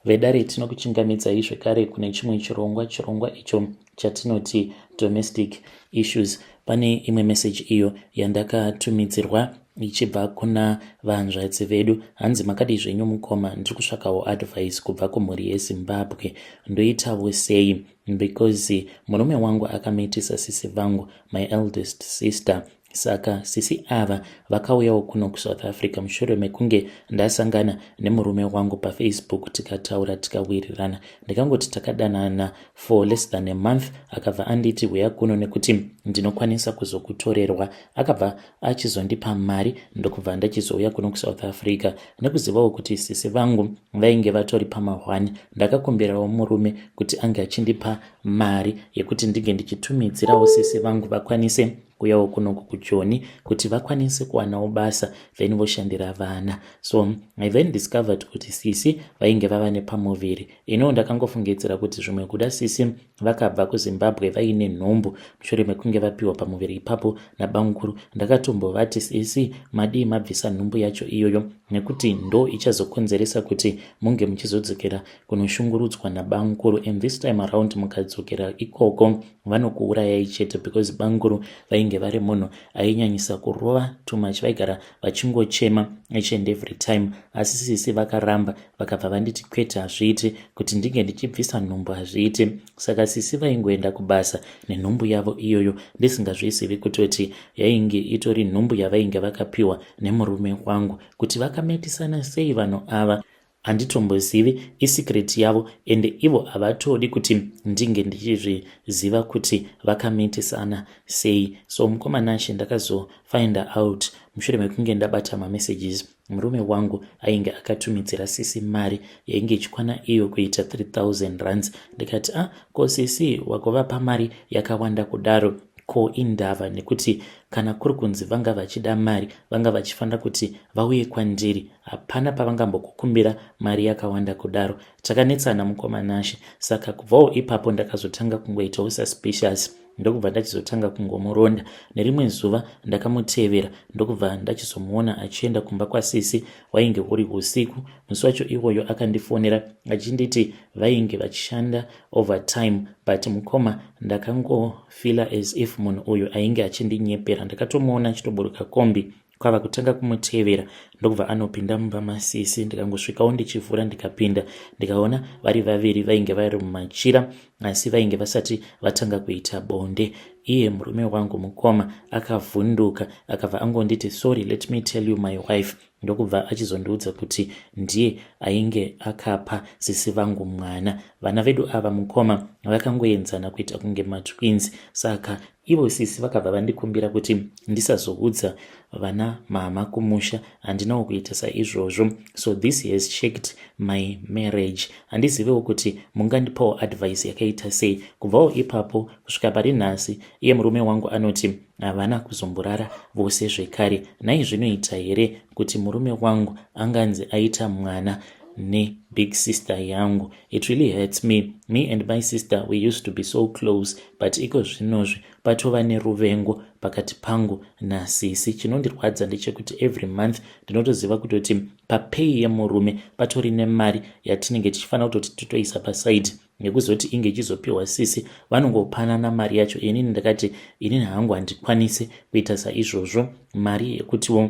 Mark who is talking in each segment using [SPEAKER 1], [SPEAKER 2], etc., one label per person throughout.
[SPEAKER 1] Vedare tinokuchingamidzai zvekare kune chimwe chirongwa chirongwa icho chatinoti domestic issues pane imwe meseji iyo yandakatumidzirwa ichibva kuna vahanzvadzi vedu hanzi makadii zvenyu mukoma ndiri kutsvakawo advice kubva kumhuri yezimbabwe ndoitawo sei because murume wangu akamiitisa sisi vangu my eldest sister Saka sisi ava vakauyawo kuno kusouth Africa mushure mekunge ndasangana nemurume wangu pafacebook tikataura tikawirirana ndikangoti takadanana for less than a month akabva anditi huya kuno nekuti ndinokwanisa kuzokutorerwa akabva achizondipa mari ndokubva ndachizouya kuno kusouth Africa nekuzivawo kuti sisi vangu vainge vatori pamahwani ndakakumbirawo murume kuti ange achindipa mari yekuti ndinge ndichitumidzirawo sisi vangu vakwanise kuyawo kunoku kujoni kuti vakwanise kuwanawo basa then voshandira vana so i then discovered kuti sisi vainge vava nepamuviri ino ndakangofungidzira kuti zvimwe kuda sisi vakabva kuzimbabwe vaine nhumbu mushure mekunge vapiwa pamuviri ipapo nabangukuru ndakatombovati sisi madii mabvisa nhumbu yacho iyoyo nekuti ndo ichazokonzeresa kuti munge muchizodzokera kunoshungurudzwa nabamkuru and this time around mukadzokera ikoko vanokuurayai chete because bamkuru vainge vari munhu ainyanyisa kurova too much vaigara vachingochema each and every time asi sisi vakaramba vakabva vanditi kwete hazviiti kuti ndinge ndichibvisa nhumbu hazviiti saka sisi vaingoenda kubasa nenhumbu yavo iyoyo ndisingazvizivi kutoti yainge itori nhumbu yavainge vakapiwa nemurume wangu kuti vakametisana sei vanhu ava Handitombozivi isecret yavo ende ivo havatodi kuti ndinge ndichizviziva kuti vakameetisana sei so mukoma Nashe ndakazofinder out mushure mekunge ndabata mamessages murume wangu ainge akatumidzira sisi mari yainge ichikwana iyo kuita 3000 rands ndikati ah ko sisi wagovapa mari yakawanda kudaro ko indava nekuti kana kuri kunzi vanga vachida mari vanga vachifanira kuti vauye kwandiri hapana pavangambokukumbira mari yakawanda kudaro takanetsana mukoma nashe saka kubvawo ipapo ndakazotanga kungoitawo suspicious ndokubva ndachizotanga kungomuronda nerimwe zuva ndakamutevera ndokubva ndachizomuona achienda kumba kwasisi wainge uri usiku musi wacho iwoyo akandifonera achinditi vainge vachishanda overtime but mukoma ndakangofila as if munhu uyu ainge achindinyepera ndakatomuona achitoburuka kombi kwava kutanga kumutevera ndokubva anopinda mumba masisi ndikangosvikawo ndichivhura ndikapinda ndikaona vari vaviri vainge vari mumachira asi vainge vasati vatanga kuita bonde iye murume wangu mukoma akavhunduka akabva angonditi sorry let me tell you my wife ndokubva achizondiudza kuti ndiye ainge akapa sisi vangu mwana vana vedu ava mukoma vakangoenzana kuita kunge matwins saka Ivo sisi vakabva vandikumbira kuti ndisazoudza vana mama kumusha handinawo kuita saizvozvo so this has checked my marriage handizivewo kuti mungandipawo advice yakaita sei kubvawo ipapo kusvika pari nhasi iye murume wangu anoti havana kuzomborara vose zvekare nai zvinoita here kuti murume wangu anganzi aita mwana nebig sister yangu It really hurts me. Me and my sister we used to be so close but iko zvinozvi patova neruvengo pakati pangu nasisi. Chinondirwadza ndechekuti every month ndinotoziva kutoti papay yemurume patori nemari yatinenge tichifanira kutoti titoisa paside nekuzoti inge ichizopiwa sisi vanongopanana mari yacho inini ndakati inini hangu handikwanise kuita saizvozvo mari yekutiwo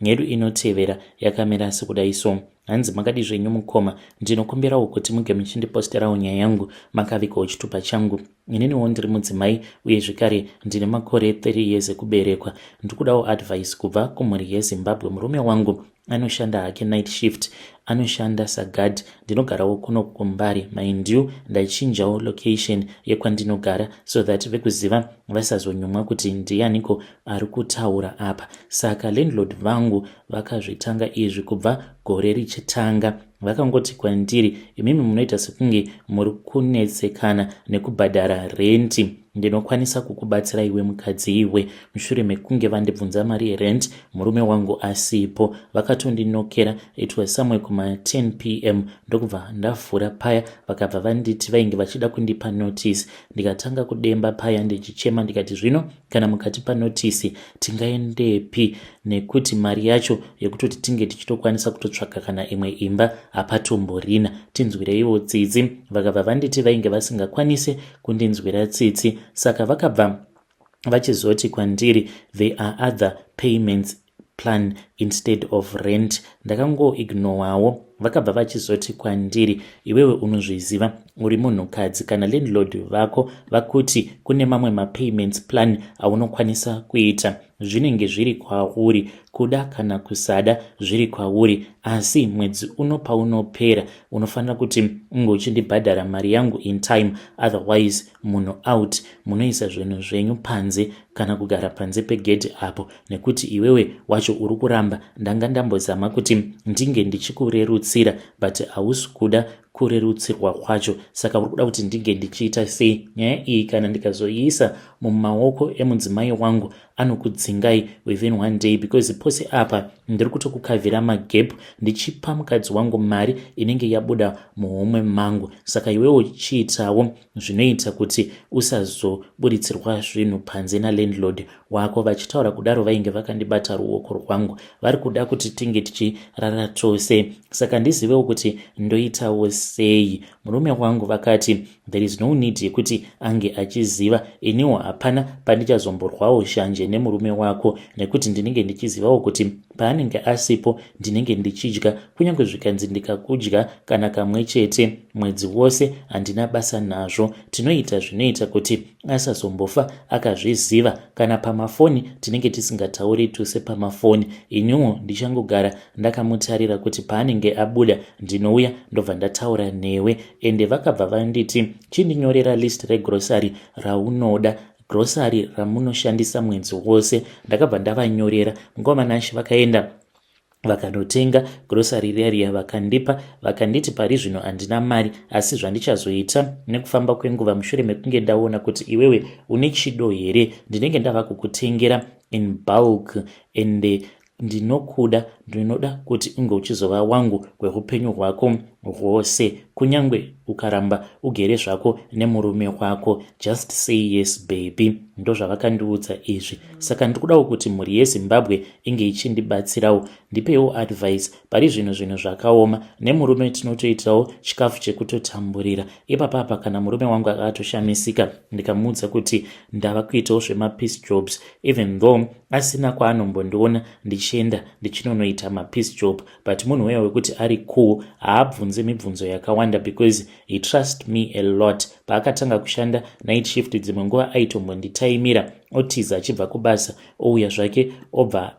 [SPEAKER 1] Nhedu inotevera yakamira sekudai so. Hanzi makadi zvenyu mukoma, ndinokumbirawo kuti muge muchindiposterawo nyaya yangu makavikawo chitupa changu. Ininiwo ndiri mudzimai uye zvekare ndine makore 30 years ekuberekwa. Ndikudawo advice kubva kumhuri yeZimbabwe. Murume wangu anoshanda hake night shift, anoshanda sagad, ndinogarawo kuno kumbari maindiu ndaichinjawo location yekwandinogara so that vekuziva vasazonyumwa kuti ndiyaniko ari kutaura apa saka landlord vangu vakazvitanga izvi kubva gore richitanga vakangoti kwandiri imimi munoita sekunge muri kunetsekana nekubhadhara renti ndinokwanisa kukubatsira iwe mukadzi iwe mushure mekunge vandibvunza mari yerent murume wangu asipo vakatondinokera it was somewhere kuma 10 p m ndokubva ndavhura paya vakabva vanditi vainge vachida kundipa notice ndikatanga kudemba paya ndichichema ndikati zvino kana mukatipa notisi tingaendepi nekuti mari yacho yekutoti tinge tichitokwanisa kutotsvaga kana imwe imba hapatomborina tinzwireiwo tsitsi vakabva vanditi vainge vasingakwanise kundinzwira tsitsi saka vakabva vachizoti kwandiri there are other payments plan instead of rent ndakango ignowawo vakabva vachizoti kwandiri iwewe unozviziva uri munhukadzi kana landlord vako vakuti kune mamwe mapayments plan aunokwanisa kuita zvinenge zviri kwauri kuda kana kusada zviri kwauri asi mwedzi uno paunopera unofanira kuti unge uchindibhadhara mari yangu in time otherwise munhu out munoisa zvinhu zvenyu panze kana kugara panze pegedhi apo nekuti iwewe wacho uri kuramba ndanga ndambozama kuti ndinge ndichikurerutsira but hausi kuda kurerutsirwa kwacho saka uri kuda kuti ndinge ndichiita sei nyaya iyi kana ndikazoiisa mumaoko emudzimai wangu anokudzingai within one day because pose apa ndiri kutokukavhira magap ndichipa mukadzi wangu mari inenge yabuda muhomwe mangu saka iwewo chiitawo zvinoita kuti usazoburitsirwa zvinhu panze nalandlord wako vachitaura kudaro vainge vakandibata ruoko rwangu vari kuda kuti tinge tichirara tose saka ndizivewo kuti ndoitawo sei murume wangu vakati there is no need yekuti ange achiziva iniwo hapana pandichazomborwawo shanje nemurume wako nekuti ndinenge ndichizivawo kuti Paanenge asipo ndinenge ndichidya kunyange zvikanzi ndikakudya kana kamwe chete mwedzi wose handina basa nazvo. Tinoita zvinoita kuti asazombofa akazviziva. Kana pamafoni tinenge tisingatauri tose pamafoni. Iniwo ndichangogara ndakamutarira kuti paanenge abuda ndinouya ndobva ndataura newe. Ende vakabva vanditi chindinyorera list regrocery raunoda grocery ramunoshandisa mwedzi wose ndakabva ndavanyorera nguva manashe vakaenda vakanotenga grocery riya riya vakandipa vakanditi pari zvino handina mari asi zvandichazoita nekufamba kwenguva mushure mekunge ndaona kuti iwewe une chido here ndinenge ndava kukutengera in bulk and Ndinokuda, ndinoda kuti unge uchizova wangu kweupenyu hwako hwose, kunyange ukaramba ugere zvako nemurume wako, just say yes baby. Ndozvavakandiudza izvi, saka ndikudawo kuti mhuri yeZimbabwe inge ichindibatsirawo, ndipeiwo advice pari zvino zvinhu zvakaoma nemurume tinotoitawo chikafu chekutotamburira ipapa apa kana murume wangu akatoshamisika ndikamuudza kuti ndava kuitawo zvemapeace jobs even though asina kwaanombondiona ndichienda ndichinonoita mapeace job but munhu weya wekuti ari cool haabvunze mibvunzo yakawanda because he trust me a lot paakatanga kushanda night shift dzimwe nguva aitombonditaimira otiza achibva kubasa ouya zvake obva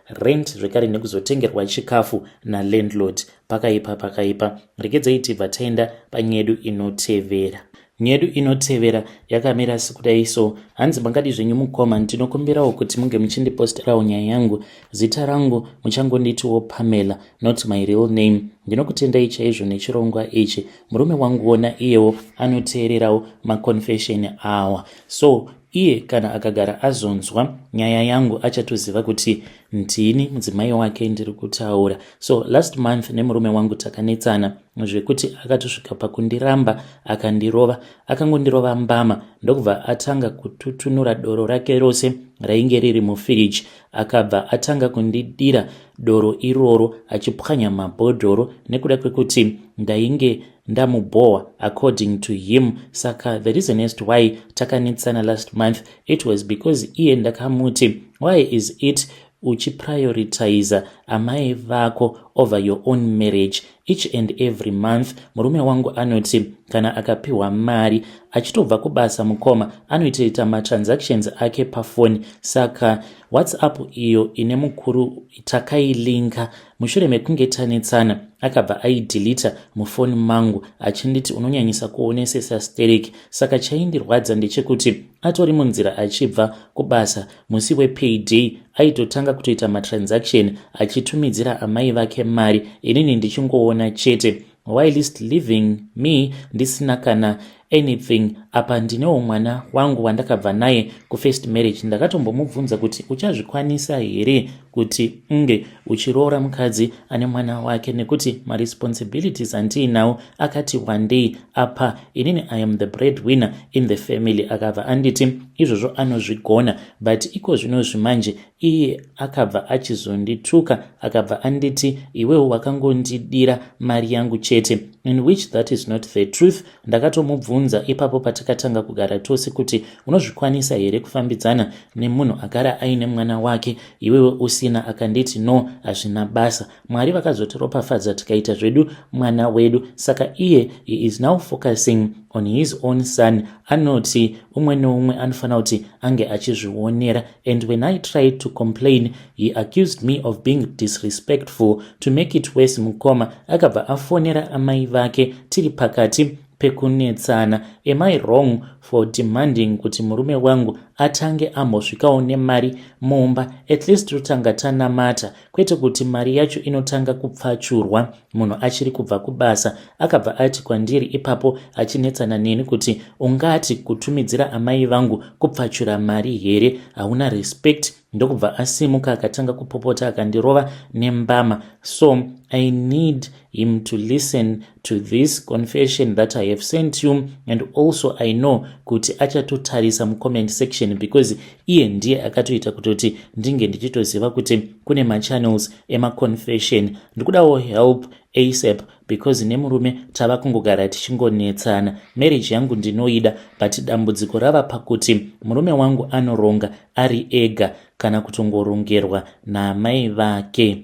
[SPEAKER 1] rent zvekare nekuzotengerwa chikafu nalandlord pakaipa pakaipa regedzai tibva taenda panyedu inotevera nyedu inotevera yakamira sekudai so hanzi mangadi zvenyu mukoma ndinokumbirawo kuti munge muchindiposterawo nyaya yangu zita rangu muchangonditiwo pamela not my real name ndinokutendai chaizvo nechirongwa ichi murume wangu wona iyewo anoteererawo maconfession awa so Iye kana akagara azonzwa nyaya yangu achatoziva kuti ndini mudzimai wake ndiri kutaura. So last month nemurume wangu takanetsana zvekuti akatosvika pakundiramba akandirova. Akangondirova mbama ndokubva atanga kututunura doro rake rose rainge riri mufiriji. Akabva atanga kundidira doro iroro achipwanya mabhodhoro nekuda kwekuti ndainge ndamubhowa according to him saka the reasonest why takanetsana last month it was because iye ndakamuti why is it uchiprioritiza amai vako over your own marriage each and every month murume wangu anoti kana akapiwa mari achitobva kubasa mukoma anoitoita matransactions ake pafoni saka whatsapp iyo ine mukuru takailinka mushure mekunge tanetsana akabva aidhilita mufoni mangu achinditi unonyanyisa kuonesesa sterek saka chaindirwadza ndechekuti atori munzira achibva kubasa musi wepayday aitotanga kutoita matransaction achitumidzira amai vake mari inini ndichingoona chete whilst living me ndisina kana anything apa ndinewo mwana wangu wandakabva naye kufirst marriage ndakatombomubvunza kuti uchazvikwanisa here kuti unge uchiroora mukadzi ane mwana wake nekuti maresponsibilities andiinawo akati wandei apa inini i am the bread winner in the family akabva anditi izvozvo anozvigona but iko zvino zvimanje Iye akabva achizondituka akabva anditi iwewo wakangondidira mari yangu chete in which that is not the truth. Ndakatomubvunza ipapo patakatanga kugara tose kuti unozvikwanisa here kufambidzana nemunhu agara aine mwana wake iwewe usina? Akanditi no, hazvina basa. Mwari vakazotiropafadza tikaita zvedu mwana wedu. Saka iye he is now focusing on his own son anoti umwe neumwe anofanira kuti ange achizvionera. and when I tried to complain, he accused me of being disrespectful. To make it worse, mukoma akabva afonera amai vake tiri pakati pekunetsana. Am I wrong for demanding kuti murume wangu atange ambosvikawo nemari mumba? At least totanga tanamata kwete kuti mari yacho inotanga kupfachurwa munhu achiri kubva kubasa akabva ati kwandiri ipapo achinetsana neni kuti ungati kutumidzira amai vangu kupfachura mari here hauna respect ndokubva asimuka akatanga kupopota akandirova nembama so i need him to listen to this confession that i have sent you and also i know kuti achatotarisa mucomment section because iye ndiye akatoita kutoti ndinge ndichitoziva kuti kune machannels emaconfession ndikudawo help asap because nemurume tava kungogara tichingonetsana marriage yangu ndinoida but dambudziko rava pakuti murume wangu anoronga ari ega kana kutongorongerwa naamai vake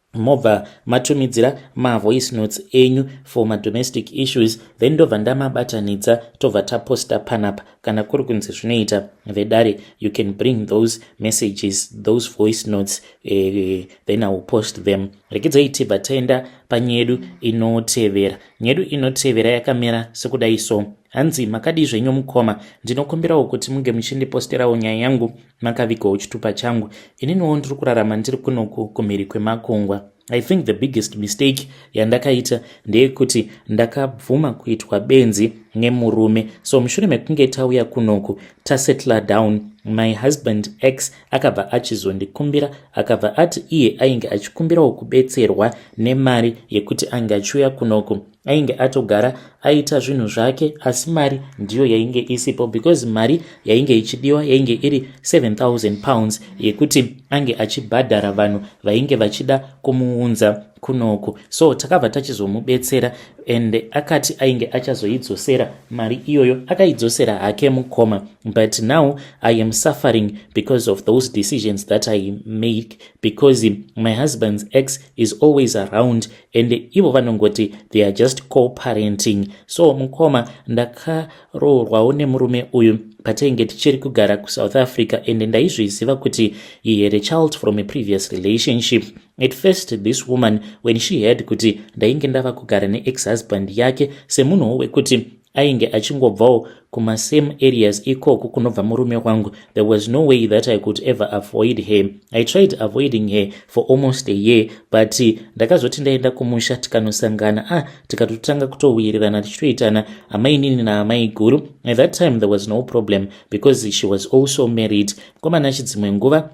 [SPEAKER 1] mobva matumidzira mavoice notes enyu for madomestic issues then ndobva ndamabatanidza tobva taposta panapa kana kuri kunzi zvinoita vedare you can bring those messages those voice notes eh, then iwill post them rekidzai tibva taenda panyedu inotevera nyedu inotevera yakamira sekudai so hanzi makadii zvenyu mukoma ndinokumbirawo kuti munge muchindiposterawo nyaya yangu makavigwawo chitupa changu ininiwo ndiri kurarama ndiri kunoku kumhiri kwemakungwa i think the biggest mistake yandakaita ndeyekuti ndakabvuma kuitwa benzi nemurume so mushure mekunge tauya kunoku tasettla down my husband x akabva achizondikumbira akabva ati iye ainge achikumbirawo kubetserwa nemari yekuti ange achiuya kunoku ainge atogara aita zvinhu zvake asi mari ndiyo yainge isipo because mari yainge ichidiwa yainge iri 7000 pounds yekuti ange achibhadhara vanhu vainge vachida kumuunza kunoku so takabva tachizomubetsera and akati ainge achazoidzosera mari iyoyo akaidzosera hake mukoma but now i am suffering because of those decisions that i make because my husband's ex is always around and ivo vanongoti they are just coparenting so mukoma ndakaroorwawo nemurume uyu patenge tichiri kugara kusouth africa and ndaizviziva kuti he had a child from a previous relationship at first this woman when she heard kuti ndainge ndava kugara neexhusband yake semunhuwo wekuti ainge achingobvawo kumasame areas ikoko kunobva murume wangu there was no way that i could ever avoid her i tried avoiding her for almost a year but ndakazoti ndaenda kumusha tikanosangana ah tikatotanga kutowirirana tichitoitana amainini naamai guru at that time there was no problem because she was also married komana chidzimwe nguva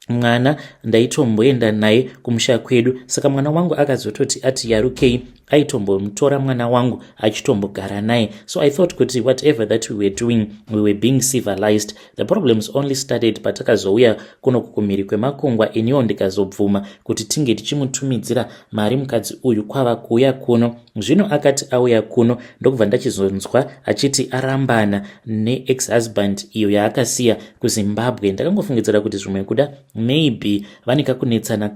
[SPEAKER 1] mwana ndaitomboenda naye kumusha kwedu saka mwana wangu akazototi ati yarukei aitombomutora mwana wangu achitombogara naye so i thought kuti whatever that we were doing we were being civilized the problems only started patakazouya kuno kukumhiri kwemakungwa iniwo ndikazobvuma kuti tinge tichimutumidzira mari mukadzi uyu kwava kuuya kuno zvino akati auya kuno ndokubva ndachizonzwa achiti arambana neex husband iyo yaakasiya kuzimbabwe ndakangofungidzira kuti zvimwe kuda maybe vane kakunetsana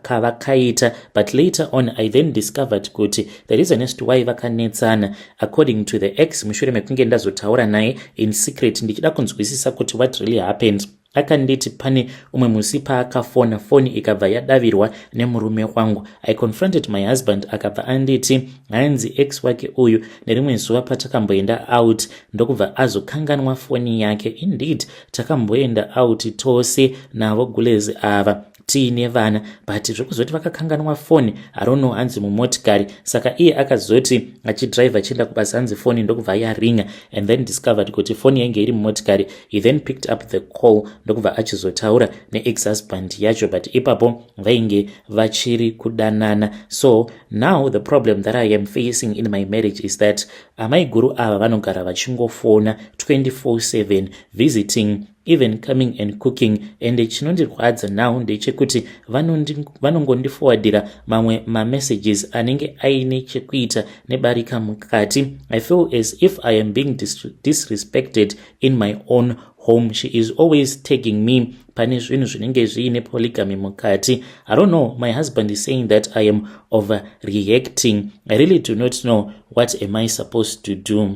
[SPEAKER 1] kavakaita but later on i then discovered kuti the reason as to why vakanetsana according to the ex mushure mekunge ndazotaura naye in secret ndichida kunzwisisa kuti what really happened akanditi pane umwe musi paakafona foni ikabva yadavirwa nemurume wangu i confronted my husband akabva anditi hanzi ex wake uyu nerimwe zuva patakamboenda out ndokubva azokanganwa foni yake indeed takamboenda out tose navo gulezi ava tiine vana but zvekuzoti vakakanganwa foni arono hanzi mumotikari saka iye akazoti achidrive achienda kubasa hanzi foni ndokubva yaringa and then discovered kuti foni yainge iri mumotikari he then picked up the call ndokubva achizotaura neexhusband yacho but ipapo vainge vachiri kudanana so now the problem that i am facing in my marriage is that amaiguru ava vanogara vachingofona 24/7 visiting even coming and cooking and chinondirwadza now ndechekuti vanongondifowadira mamwe mamessages anenge aine chekuita nebarika mukati i feel as if i am being dis disrespected in my own home she is always tagging me pane zvinhu zvinenge zviine polygamy mukati i don't know my husband is saying that i am over reacting i really do not know what am i supposed to do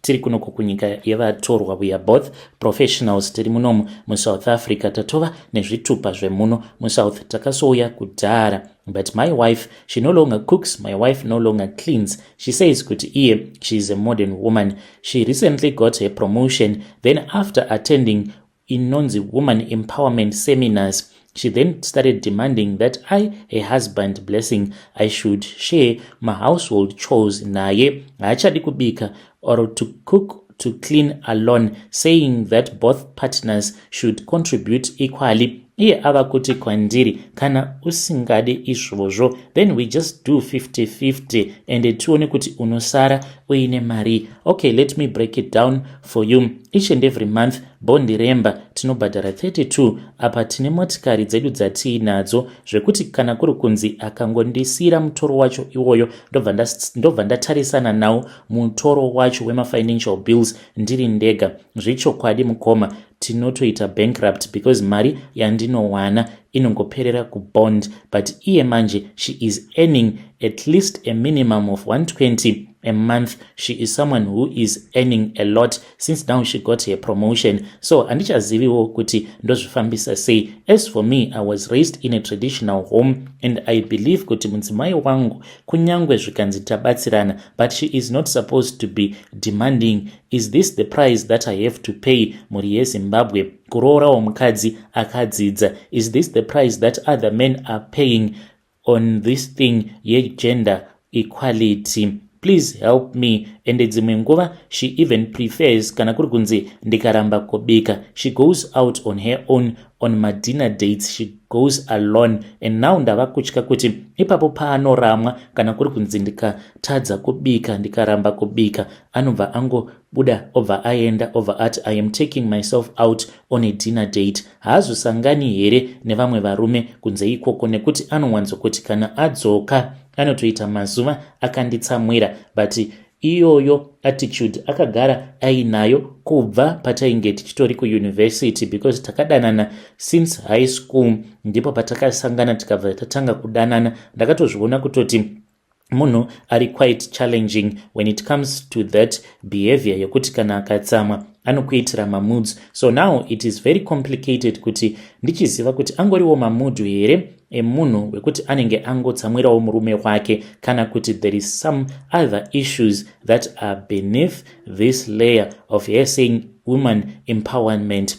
[SPEAKER 1] tiri kuno kukunyika yevatorwa we are both professionals tiri munomu musouth africa tatova nezvitupa zvemuno musouth takasouya kudhara but my wife she no longer cooks my wife no longer cleans she says kuti iye she is a modern woman she recently got her promotion then after attending inonzi woman empowerment seminars she then started demanding that i her husband blessing i should share mahousehold chores naye haachadi kubika or to cook to clean alone saying that both partners should contribute equally iye ava kuti kwandiri kana usingadi izvozvo then we just do 5050 ende tione kuti unosara uine mari okay let me break it down For you, each and every month, bondi remba tinobhadhara 32 apa tine motikari dzedu dzatiinadzo zvekuti kana kuri kunzi akangondisiira mutoro wacho iwoyo ndobva ndatarisana nawo mutoro wacho wemafinancial bills ndiri ndega zvechokwadi mukoma tinotoita bankrupt because mari yandinowana inongoperera kubond but iye manje she is earning at least a minimum of 120 a month she is someone who is earning a lot since now she got her promotion so handichaziviwo kuti ndozvifambisa sei as for me i was raised in a traditional home and i believe kuti mudzimai wangu kunyange zvikanzi tabatsirana but she is not supposed to be demanding Is this the price that I have to pay mhuri yeZimbabwe kuroorawo mukadzi akadzidza? Is this the price that other men are paying on this thing yegender equality? Please help me. Ende dzimwe nguva she even prefers kana kuri kunzi ndikaramba kubika. She goes out on her own on madinner dates she goes alone and now ndava kutya kuti ipapo paanoramwa kana kuri kunzi ndika tadza kubika ndikaramba kubika anobva angobuda obva aenda obva ati i am taking myself out on a dinner date haazosangani here nevamwe varume kunze ikoko nekuti anowanzokuti kana adzoka anotoita mazuva akanditsamwira but iyoyo attitude akagara ainayo kubva patainge tichitori kuuniversity because takadanana since high school ndipo patakasangana tikabva tatanga kudanana ndakatozviona kutoti munhu ari quite challenging when it comes to that behavior yekuti kana akatsamwa anokuitira mamoods so now it is very complicated kuti ndichiziva kuti angoriwo mamudhu here emunhu wekuti anenge angotsamwirawo murume wake kana kuti there is some other issues that are beneath this layer of her saying woman empowerment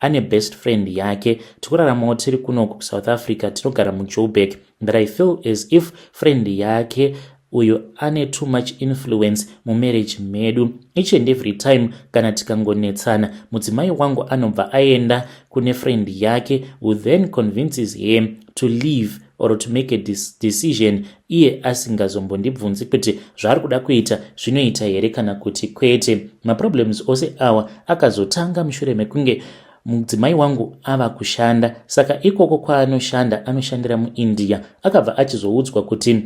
[SPEAKER 1] ane best friend yake tikuraramawo tiri kuno kusouth africa tinogara mujoburg but i feel as if friend yake uyo ane too much influence mumarriage medu each and every time kana tikangonetsana mudzimai wangu anobva aenda kune friend yake who then convinces him to leave or to make a decision iye asingazombondibvunzi kuti zvaari kuda kuita zvinoita here kana kuti kwete maproblems ose awa akazotanga mushure mekunge mudzimai wangu ava kushanda saka ikoko kwaanoshanda anoshandira muindia akabva achizoudzwa kuti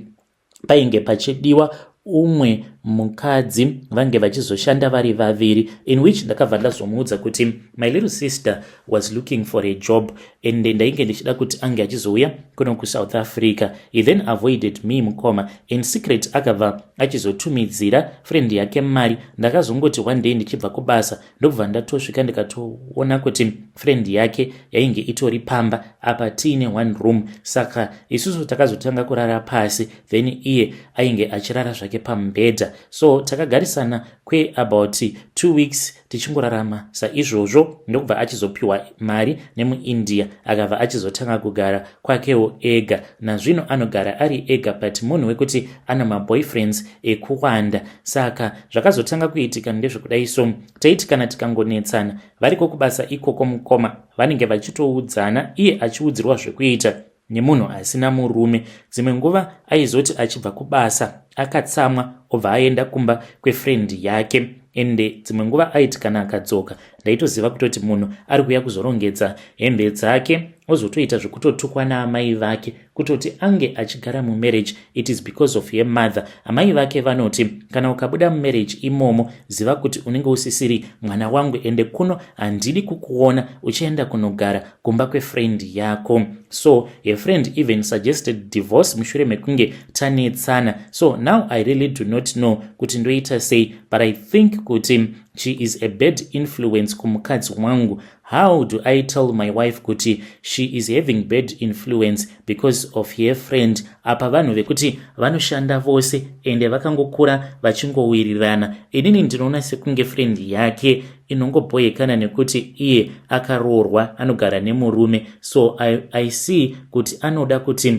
[SPEAKER 1] painge pachidiwa umwe mukadzi vange vachizoshanda vari vaviri in which ndakabva ndazomuudza kuti my little sister was looking for a job and ndainge ndichida kuti ange achizouya kuno kusouth africa he then avoided me mukoma in secret akabva achizotumidzira friend yake mari ndakazongoti one day ndichibva kubasa ndokubva ndatosvika ndikatoona kuti friend yake yainge itori pamba apa tiine one room saka isusu takazotanga kurara pasi then iye ainge achirara zvake pamubhedha so takagarisana kweabout two weeks tichingorarama saizvozvo ndokubva achizopiwa mari nemuindia akabva achizotanga kugara kwakewo ega nazvino anogara ari ega but munhu wekuti ana maboyfriends ekuwanda saka zvakazotanga kuitika ndezvekudai so taiti kana tikangonetsana variko kubasa ikoko mukoma vanenge vachitoudzana iye achiudzirwa zvekuita nemunhu asina murume dzimwe nguva aizoti achibva kubasa akatsamwa obva aenda kumba kwefrendi yake ende dzimwe nguva aiti kana akadzoka ndaitoziva kutoti munhu ari kuuya kuzorongedza hembe dzake ozotoita zvekutotukwa naamai vake kutoti ange achigara mumarriage it is because of her mother amai vake vanoti kana ukabuda mumarriage imomo ziva kuti unenge usisiri mwana wangu ende kuno handidi kukuona uchienda kunogara kumba kwefriend yako so her friend even suggested divorce mushure mekunge tanetsana so now i really do not know kuti ndoita sei but i think kuti she is a bad influence kumukadzi wangu how do i tell my wife kuti she is having bad influence because of her friend apa vanhu vekuti vanoshanda vose ende vakangokura vachingowirirana inini ndinoona sekunge friend yake inongobhoyekana nekuti iye akaroorwa anogara nemurume so i, I see kuti anoda kuti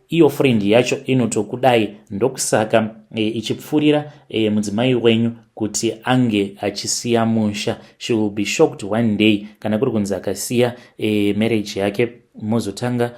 [SPEAKER 1] iyo friend yacho inotokudai ndokusaka e, ichipfurira e, mudzimai wenyu kuti ange achisiya musha she will be shocked one day kana kuri kunzi akasiya e, marriage yake mozotanga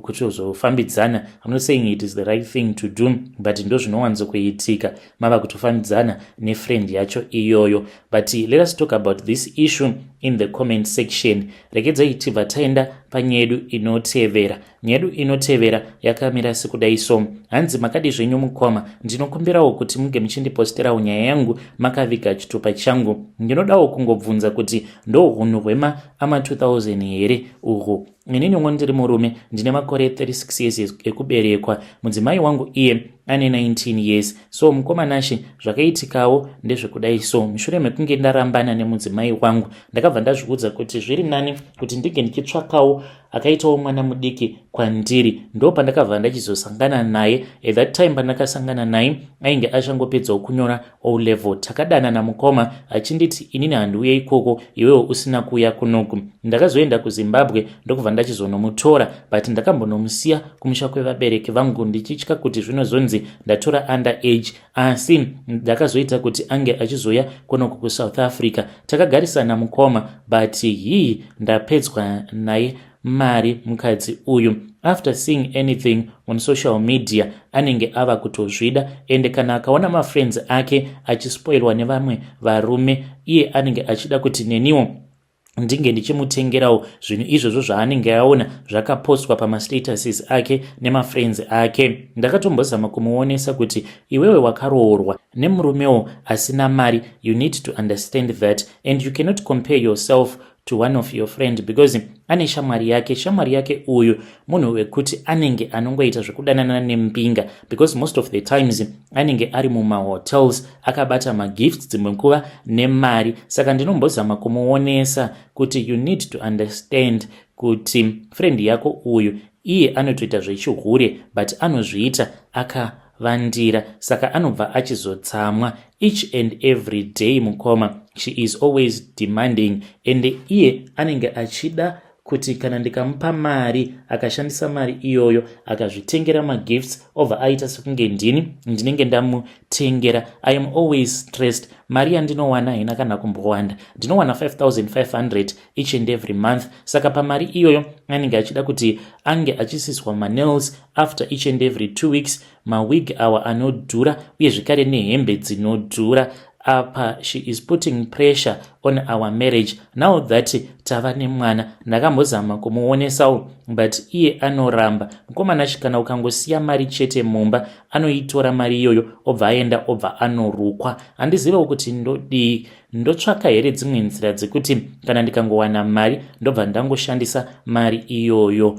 [SPEAKER 1] kutozofambidzana ku, I'm not saying it is the right thing to do but ndo zvinowanzo kuitika mava kutofambidzana nefriend yacho iyoyo but let us talk about this issue in the comment section rekedzai tibva taenda panyedu inotevera Nyedu inotevera yakamira sekudai so. Hanzi makadi zvenyu mukoma, ndinokumbirawo kuti muge muchindiposterawo nyaya yangu makaviga chitupa changu. Ndinodawo kungobvunza kuti ndohunhu hwema ama 2000 here uhwu. Ini nyongo ndiri murume ndine makore 36 years ekuberekwa. Mudzimai wangu iye ane 19 years. So mukoma Nashe zvakaitikawo ndezvekudai so. Mushure mekunge ndarambana nemudzimai wangu ndakabva ndazviudza kuti zviri nani kuti ndinge ndichitsvakawo akaitawo mwana mudiki kwandiri ndo pandakabva ndachizosangana naye at that time pandakasangana naye ainge achangopedzawo kunyora o level takadanana mukoma achinditi inini handiuye ikoko iwewo usina kuuya kunoku ndakazoenda kuzimbabwe ndokubva ndachizonomutora but ndakambonomusiya kumusha kwevabereki vangu ndichitya kuti zvinozonzi ndatora under age asi ndakazoita kuti ange achizouya kunoku kusouth africa takagarisana mukoma but hii ndapedzwa naye mari mukadzi uyu after seeing anything on social media anenge ava kutozvida ende kana akaona mafriends ake achispoilwa nevamwe varume iye anenge achida kuti neniwo ndinge ndichimutengerawo zvinhu izvozvo zvaanenge aona zvakapostwa pamastatuses ake nemafriends ake ndakatombozama kumuonesa kuti iwewe wakaroorwa nemurumewo asina mari you need to understand that and you cannot compare yourself to one of your friend because ane shamwari yake shamwari yake uyu munhu wekuti anenge anongoita zvekudanana nembinga because most of the times anenge ari mumahotels akabata magifts dzimwe nguva nemari saka ndinombozama kumuonesa kuti you need to understand kuti friend yako uyu iye anotoita zvechihure but anozviita aka vandira saka anobva achizotsamwa each and every day mukoma she is always demanding ende iye anenge achida kuti kana ndikamupa mari akashandisa mari iyoyo akazvitengera magifts obva aita sekunge ndini ndinenge ndamutengera i am always stressed mari yandinowana haina kana kumbowanda ndinowana 5500 each and every month saka pamari iyoyo anenge achida kuti ange achisiswa manels after each and every two weeks mawig awa anodhura uye zvekare nehembe dzinodhura apa she is putting pressure on our marriage now that tava nemwana ndakambozama kumuonesawo but iye anoramba mukomana chikana ukangosiya mari chete mumba anoitora mari iyoyo obva aenda obva anorukwa handizivewo kuti ndodii ndotsvaka here dzimwe nzira dzekuti kana ndikangowana mari ndobva ndangoshandisa mari iyoyo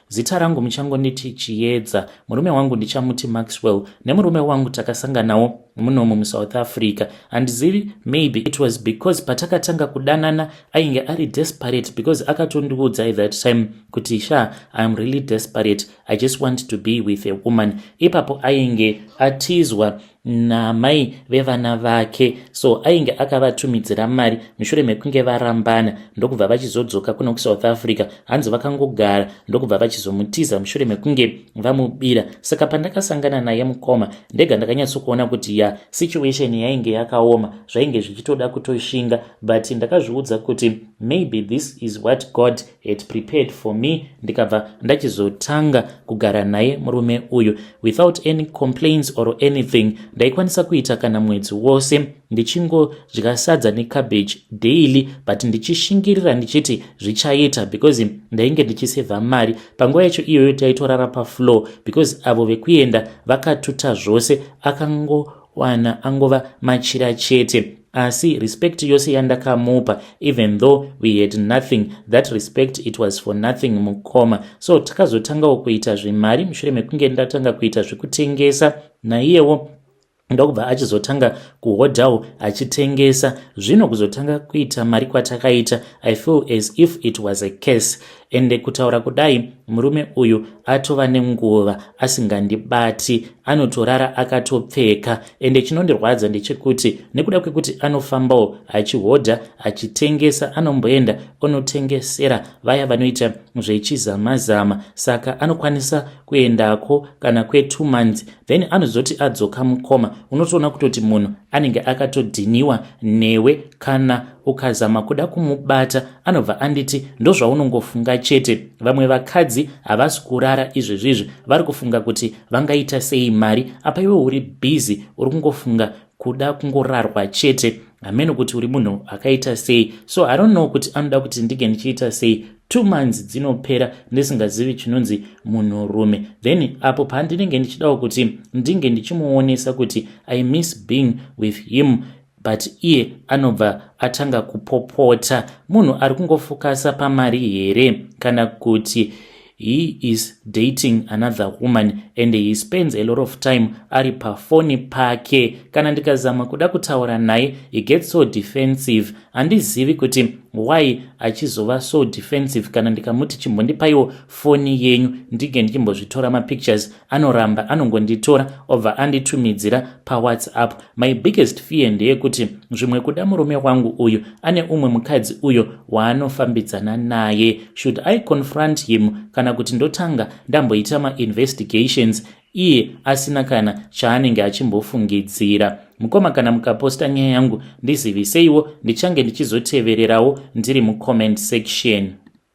[SPEAKER 1] Zita rangu muchangonditi Chiyedza. Murume wangu ndichamuti Maxwell. Nemurume wangu takasanganawo munomu muSouth Africa. Handizivi, maybe it was because patakatanga kudanana ainge ari desperate because akatondiudzai that time kuti sha I am really desperate. I just want to be with a woman. Ipapo ainge atizwa naamai vevana vake so ainge akavatumidzira mari mushure mekunge varambana ndokubva vachizodzoka kuno kusouth africa hanzi vakangogara ndokubva vachizomutiza mushure mekunge vamubira saka pandakasangana naye mukoma ndega ndakanyatsokuona kuti ya situation yainge yakaoma zvainge zvichitoda kutoshinga but ndakazviudza kuti maybe this is what god had prepared for me ndikabva ndachizotanga kugara naye murume uyu without any complaints or anything ndaikwanisa kuita kana mwedzi wose ndichingodya sadza necabbage daily but ndichishingirira ndichiti zvichaita because ndainge ndichisevha mari panguva yacho iyoyo taitorara pafloor because avo vekuenda vakatuta zvose akango Wana angova machira chete asi respect yose yandakamupa even though we had nothing that respect it was for nothing mukoma so takazotangawo kuita zvemari mushure mekunge ndatanga kuita zvekutengesa naiyewo ndokubva achizotanga kuhodhawo achitengesa zvino kuzotanga kuita mari kwatakaita i feel as if it was a case ende kutaura kudai murume uyu atova nenguva asingandibati anotorara akatopfeka ende chinondirwadza ndechekuti nekuda kwekuti anofambawo achihodha achitengesa anomboenda onotengesera vaya vanoita zvechizamazama saka anokwanisa kuendako kana kwetu months then anozoti adzoka mukoma unotoona kutoti munhu anenge akatodhiniwa newe kana ukazama kuda kumubata anobva anditi ndozvaunongofunga chete vamwe vakadzi havasi kurara izvezvizvi vari kufunga kuti vangaita sei mari apa iwe uri bhizi uri kungofunga kuda kungorarwa chete hameno kuti uri munhu akaita sei so i don't know kuti anoda kuti ndinge ndichiita sei two months dzinopera ndisingazivi chinonzi munhurume then apo pandinenge ndichidawo kuti ndinge ndichimuonesa kuti i miss being with him but iye anobva atanga kupopota munhu ari kungofokasa pamari here kana kuti he is dating another woman and he spends a lot of time ari pafoni pake kana ndikazama kuda kutaura naye he gets so defensive handizivi kuti why achizova so defensive kana ndikamuti chimbondipaiwo foni yenyu ndinge ndichimbozvitora mapictures anoramba anongonditora obva anditumidzira pawhatsapp my biggest fear ndeyekuti zvimwe kuda murume wangu uyu ane umwe mukadzi uyo waanofambidzana naye should i confront him kana kuti ndotanga ndamboita mainvestigations iye asina kana chaanenge achimbofungidzira mukoma kana mukaposta nyaya yangu ndiziviseiwo ndichange ndichizotevererawo ndiri mucomment section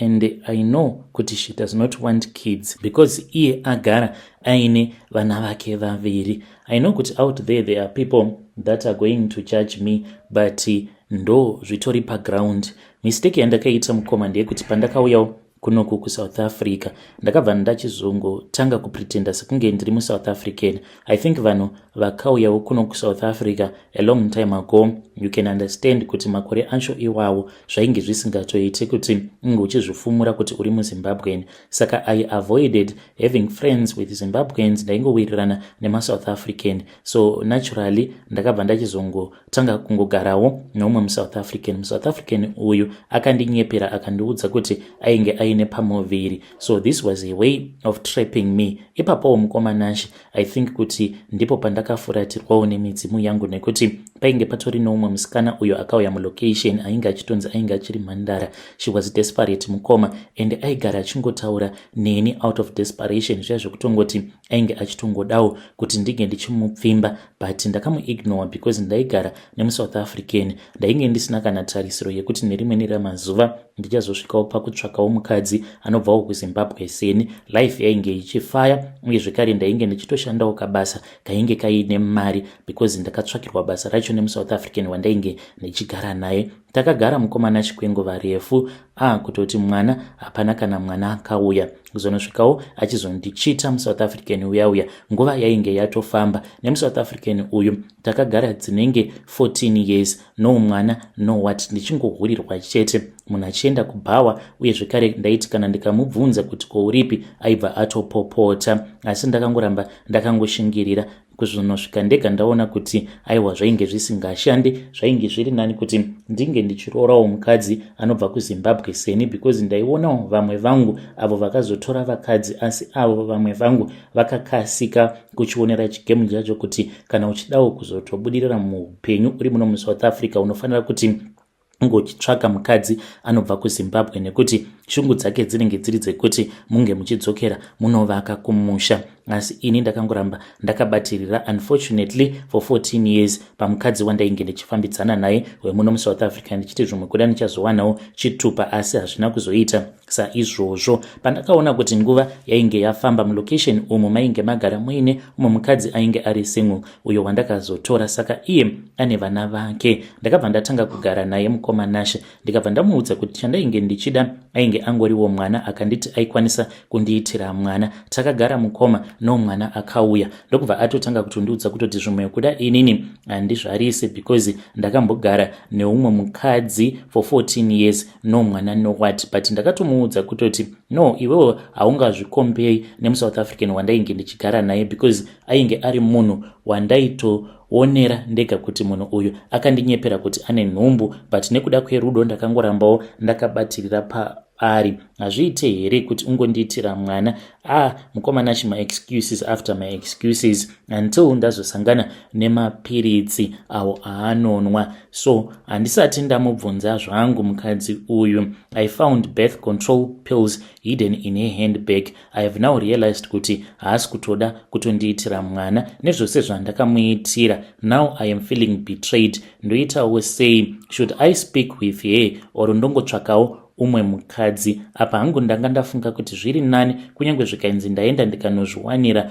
[SPEAKER 1] and i know kuti she does not want kids because iye agara aine vana vake vaviri i know kuti out there there are people that are going to judge me but ndo zvitori paground mistake yandakaita mukoma ndeyekuti pandakauyawo kunoku kusouth africa ndakabva ndachizongotanga kupretenda sekunge ndiri musouth african I think vanhu vakauyawo kuno kuSouth Africa a long time ago you can understand kuti makore acho iwawo zvainge zvisingatoite kuti unge uchizvifumura kuti uri muZimbabwean saka I avoided having friends with Zimbabweans ndaingowirirana nemaSouth African so naturally ndakabva ndachizongotanga kungogarawo neumwe muSouth African muSouth African uyu akandinyepera akandiudza kuti ainge aine pamuviri so this was a way of trapping me ipapowo mukoma nashe i think kuti ndipo pandakafuratirwawo nemidzimu yangu nekuti painge patori noumwe musikana uyo akauya mulocation ainge achitonzi ainge achiri mhandara she was desperate mukoma and aigara achingotaura neni out of desperation zviya zvekutongoti ainge achitongodawo kuti ndinge ndichimupfimba but ndakamuignore because ndaigara nemusouth african ndainge ndisina kana tarisiro yekuti nerimweni ramazuva ndichazosvikawo pakutsvakawo mukadzi anobvawo kuzimbabwe seni life yainge ichifaya uye zvekare ndainge ndichitoshandawo kabasa kainge kaine mari because ndakatsvakirwa basa racho nemusouth african wandainge ndichigara naye takagara mukomana chikwenguva refu ah kutoti mwana hapana kana mwana akauya kuzonosvikawo achizondichita musouth african uya uya nguva yainge yatofamba nemusouth african uyu takagara dzinenge 14 years no mwana no wat ndichingohurirwa chete munhu achienda kubhawa uye zvekare ndaiti kana ndikamubvunza kuti kouripi aibva atopopota asi ndakangoramba ndakangoshingirira kuzvinosvika ndega ndaona kuti aiwa zvainge zvisingashande zvainge zviri nani kuti ndinge ndichiroorawo mukadzi anobva kuzimbabwe seni because ndaionawo vamwe vangu avo vakazotora vakadzi asi avo vamwe vangu vakakasika kuchionera chigemu chacho kuti kana uchidawo kuzotobudirira muupenyu uri muno musouth africa unofanira kuti unge uchitsvaga mukadzi anobva kuzimbabwe nekuti shungu dzake dzinenge dziri dzekuti munge muchidzokera munovaka kumusha asi ini ndakangoramba ndakabatirira unfortunately for 14 years pamukadzi wandainge ndichifambidzana naye wemuno musouth africa ndichiti zvimwe kuda ndichazowanawo chitupa asi hazvina kuzoita Saizvozvo pandakaona kuti nguva yainge yafamba mulocation umu mainge magara muine umwe mukadzi ainge ari single uyo wandakazotora saka iye ane vana vake ndakabva ndatanga kugara naye mukoma Nashe ndikabva ndamuudza kuti chandainge ndichida ainge angoriwo mwana akanditi aikwanisa kundiitira mwana takagara mukoma no mwana akauya ndokubva atotanga kutondiudza kutoti zvimwe kuda inini handizvarise because ndakambogara neumwe mukadzi for 14 years no mwana no what but ndakatomuudza kutoti no iwewo haungazvikombei nemusouth african wandainge ndichigara naye because ainge ari munhu wandaito onera ndega kuti munhu uyu akandinyepera kuti ane nhumbu but nekuda kwerudo ndakangorambawo ndakabatirira paari hazviite here kuti ungondiitira mwana ah mukomana chima excuses after my excuses until ndazosangana nemapiritsi awo aanonwa so handisati ndamubvunza zvangu mukadzi uyu i found birth control pills hidden in her handbag i have now realized kuti haasi kutoda kutondiitira mwana nezvose zvandakamuitira now i am feeling betrayed ndoitawo sei should i speak with her or ndongotsvakawo umwe mukadzi apa hangu ndanga ndafunga kuti zviri nani kunyange zvikainzi ndaenda ndikanozviwanira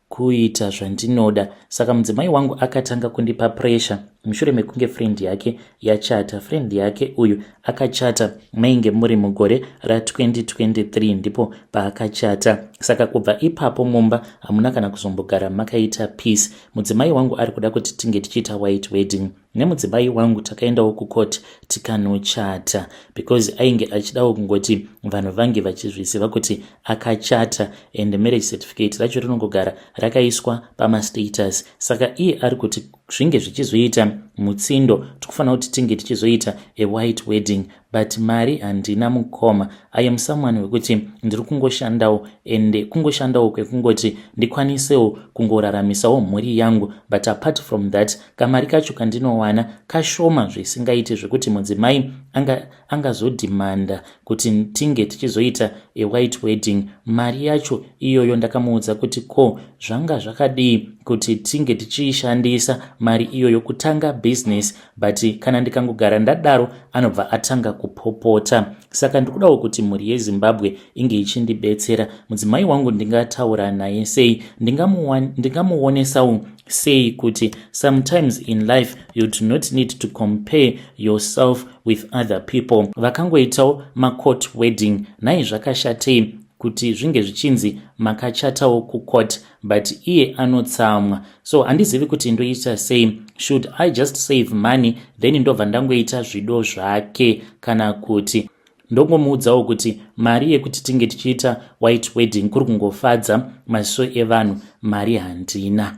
[SPEAKER 1] kuita zvandinoda saka mudzimai wangu akatanga kundipa pressure mushure mekunge friend yake yachata friend yake uyu akachata mainge muri mugore ra2023 ndipo paakachata saka kubva ipapo mumba hamuna kana kuzombogara makaita peace mudzimai wangu ari kuda kuti tinge tichiita white wedding nemudzimai wangu takaendawo kucourt tikanochata because ainge achidawo kungoti vanhu vange vachizviziva kuti akachata and marriage certificate racho rinongogara rakaiswa pamastatus saka iye ari kuti zvinge zvichizoita mutsindo tikufanira kuti tinge tichizoita awhite wedding but mari handina mukoma i am someone wekuti ndiri kungoshandawo ende kungoshandawo kwekungoti ndikwanisewo kungoraramisawo mhuri yangu but apart from that kamari kacho kandinowana kashoma zvisingaiti zvekuti mudzimai anga angazodhimanda kuti tinge tichizoita a white wedding mari yacho iyoyo ndakamuudza kuti ko zvanga zvakadii kuti tinge tichiishandisa mari iyoyo kutanga business but kana ndikangogara ndadaro anobva atanga kupopota saka ndikudawo kuti mhuri yezimbabwe inge ichindibetsera mudzimai wangu ndingataura naye sei ndingamuonesawo sei kuti sometimes in life you do not need to compare yourself with other people vakangoitawo macourt wedding nhai zvakashatei kuti zvinge zvichinzi makachatawo kucourt but iye anotsamwa so handizivi kuti ndoita sei should i just save money then ndobva ndangoita zvido zvake kana kuti ndongomuudzawo kuti mari yekuti tinge tichiita white wedding kuri kungofadza maziso evanhu mari handina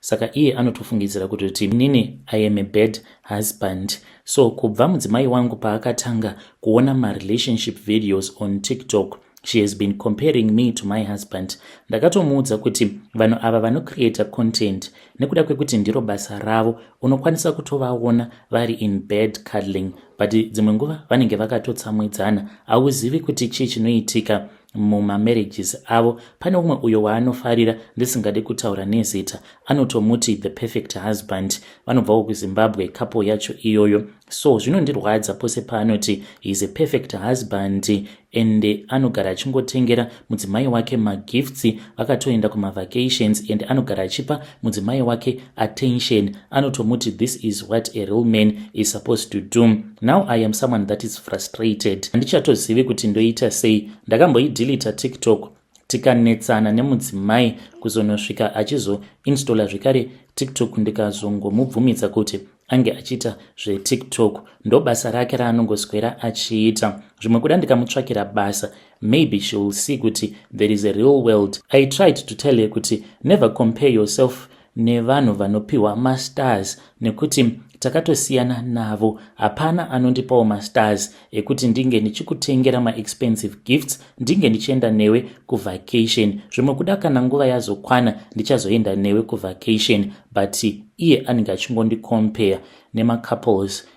[SPEAKER 1] saka iye anotofungidzira kutoti nini i am a bad husband so kubva mudzimai wangu paakatanga kuona marelationship videos on tiktok she has been comparing me to my husband ndakatomuudza kuti vanhu ava vanocreata content nekuda kwekuti ndiro basa ravo unokwanisa kutovaona vari in bad cuddling but dzimwe nguva vanenge vakatotsamwidzana hauzivi kuti chii chinoitika mumamarriages avo pane umwe uyo waanofarira ndisingade kutaura nezita anotomuti the perfect husband vanobvawo kuzimbabwe kapo yacho iyoyo so zvinondirwadza pose paanoti heis a perfect husband and anogara achingotengera mudzimai wake magifts vakatoenda kumavacations and anogara achipa mudzimai wake attention anotomuti this is what a real man is supposed to do now i am someone that is frustrated handichatozivi kuti ndoita sei ndakamboidilita tiktok tikanetsana nemudzimai kuzonosvika achizoinstalla zvekare tiktok ndikazongomubvumidza kuti ange achiita zvetiktok ndobasa rake raanongoswera achiita zvimwe kuda ndikamutsvakira basa maybe she will see kuti there is a real world i tried to tell her kuti never compare yourself nevanhu vanopiwa mastars nekuti takatosiyana navo hapana anondipawo mastars ekuti ndinge ndichikutengera maexpensive gifts ndinge ndichienda newe kuvacation zvimwe kuda kana nguva yazokwana ndichazoenda newe kuvacation but iye anenge achingondicompare nemacouples